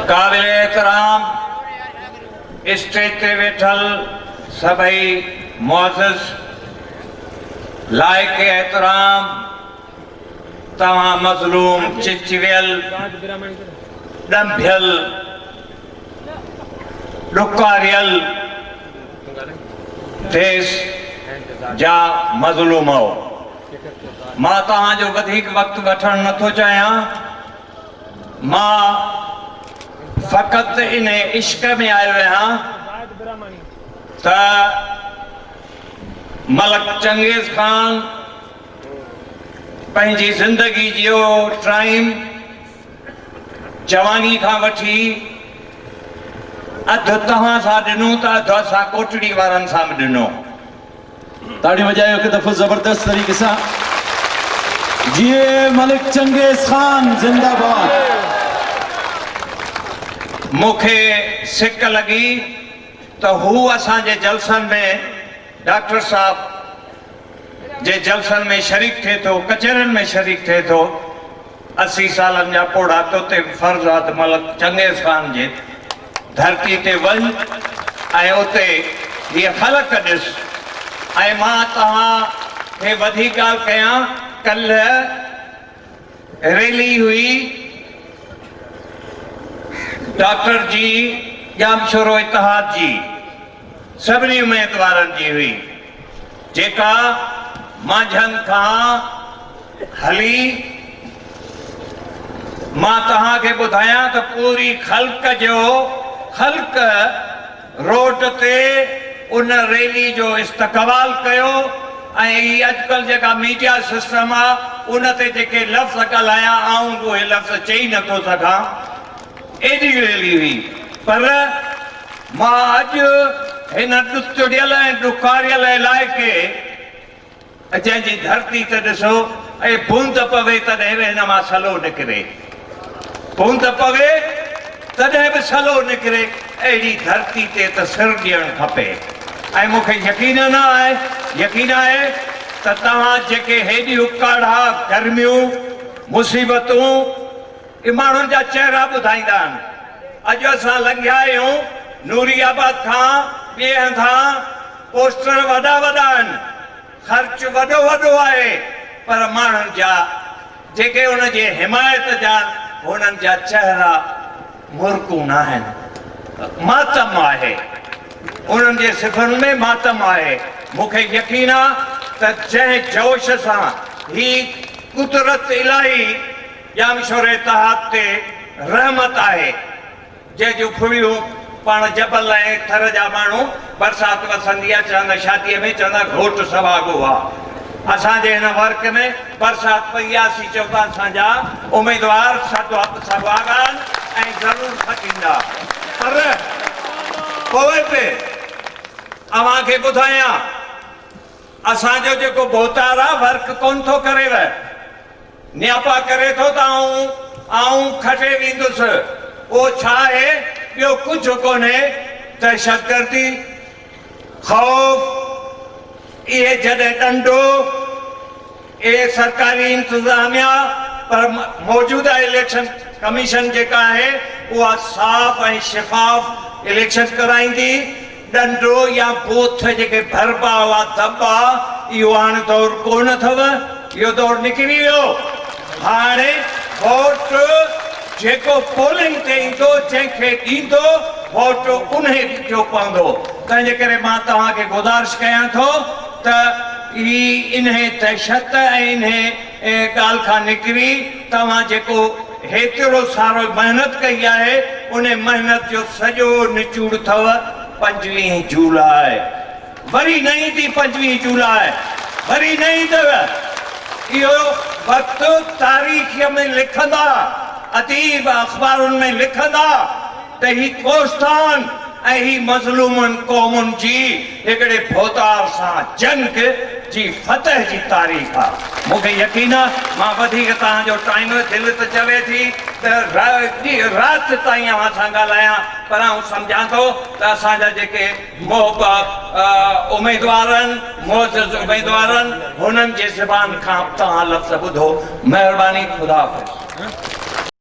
قابل احترام اسٽيج تي ويٺل سڀئي معزز لائق احترام توهان مظلوم چچويل ڏنڀيل ڏڪاريل ديس جا مظلوم هو مان توهان جو وڌيڪ وقت وٺڻ نٿو چاهيان مان فقط ان عشق ۾ آيو آهيان ته ملڪ چنگيز خان پنهنجي زندگي جو ٽائيم جواني کان وٺي اڌ توهان سان ڏنو ته اڌ اسان ڪوٽڙي وارن سان به ڏنو تاڙيون وڄايو هڪ دفعو زبردست طريقي سان جيئي ملڪ چنگيز خان زنده باد. مون کي سڪ لڳي ته هو اسان جي جلسن ۾ ڊاڪٽر صاحب جي جلسن ۾ شريڪ ٿئي ٿو ڪچهرين ۾ شريڪ ٿئي ٿو. اسي سالن جا پوڙها توتي به فرزاد ملڪ چنگيز خان جي ڌرتي تي وڃ ۽ اتي هيء خلق ڏس ۽ مان توهان کي وڌيڪ ڳالهه ڪيان، ڪلهه ريلي هئي ڊاڪٽر جي، ڄامشورو اتحاد جي. سڀني اميدوارن جي هئي جيڪا مانجهند کان هلي مان توهان کي ٻڌايان ته پوري خلق جو خلق روڊ تي ان ريلي جو استقبال ڪيو ۽ هي اڄڪلهه جيڪا ميڊيا سسٽم آ ان تي جيڪي لفظ ڳالهايا آئون اهي لفظ چئي نٿو سگهان ايڏي ريلي هئي پر مان اڄ هن ڏتڙيل ۽ ڏکاريل علائقي جنهن جي ڌرتي ته ڏسو اي بوند پوي تڏهن به هن مان سلو نڪري بوند پوي تڏهن به سلو نڪري اهڙي ڌرتي تي ته سر ڏيڻ کپي ۽ مون کي يقين نه آهي يقين آهي ته توهان جيڪي هيڏيون ڪاڙها گرميون مصيبتون اهي ماڻهن جا چهرا ٻڌائيندا آهن. اڄ اسان لنگهيا آهيون نوري آباد کان ٻئي هنڌان پوسٽر وڏا وڏا آهن، خرچ وڏو وڏو آهي پر ماڻهن جا جيڪي ان جي حمايت جا آهن هنن جا چهرا مورڪون ناهن. ماتم آهي. انهن جي صفن ۾ ماتم آهي. مون کي يقين آهي ته جنهن جوش سان هي قدرت الاهي ڄامشوري اتحاد تي رحمت آهي، جنهن جون ڦڙيون پاڻ جبل ۽ ٿر جا ماڻهو برسات وسندي آ چوندا شاديء ۾ چوندا گهوٽ سهاڳو آ. اسان جي هن ورق ۾ برسات پئي آ سي چئبا اسان جا اميدوار سهاڳان ۽ ضرور سڏيندا. پر پوء به اوهان کي ٻڌايان اسان جو جيڪو ڀوتار آ ورق ڪونه ٿو ڪريو. نياپا ڪري ٿو ته آئون آئون کٽي ويندس اهو ڇا آهي ٻيو ڪجهه ڪونهي دهشتگردي خوف اهي جڏهن ڏنڊو اهي سرڪاري انتظاميا پر موجوده اليڪشن ڪميشن جيڪا آهي اها صاف ۽ شفاف اليڪشن ڪرائيندي. ڏنڊو يا بوٿ جيڪي ڀربا هئا، دٻا، اهو هاڻ دور ڪونه اٿئو، اهو دور نڪري ويو. هاڻي ووٽ جيڪو پولنگ تي ايندو، جنهن کي ڏيندو، ووٽ انهي جو پوندو. تنهنجي ڪري مان توهان کي گذارش ڪيان ٿو ته هي انهي دهشت ۽ انهي ان ڳالهه کان نڪري توهان جيڪو هيترو سارو محنت ڪئي آهي ان محنت جو سڄو نچوڙ ٿئو پنجويهين جولاء وري نه ايندي پنجويهين جولاء وري نه ايندو اهو وقت تاريخ ۾ لکندا اديب اخبارن ۾ لکندا. ته هي ڪوستان ۽ هي مظلومن قومن جي هڪڙي ڀوتار سان جنگ جي فتح جي تاريخ آ. مون کي يقين آ مان وڌيڪ توهان جو ٽائيم دل ته چوي ٿي ته رات تائين اوهان سان ڳالهايان پر آئون سمجهان ٿو ته اسان جا جيڪي محب اميدوار آهن معزز اميدوار آهن هنن جي زبان کان توهان لفظ ٻڌو مهرباني خدا حافظ.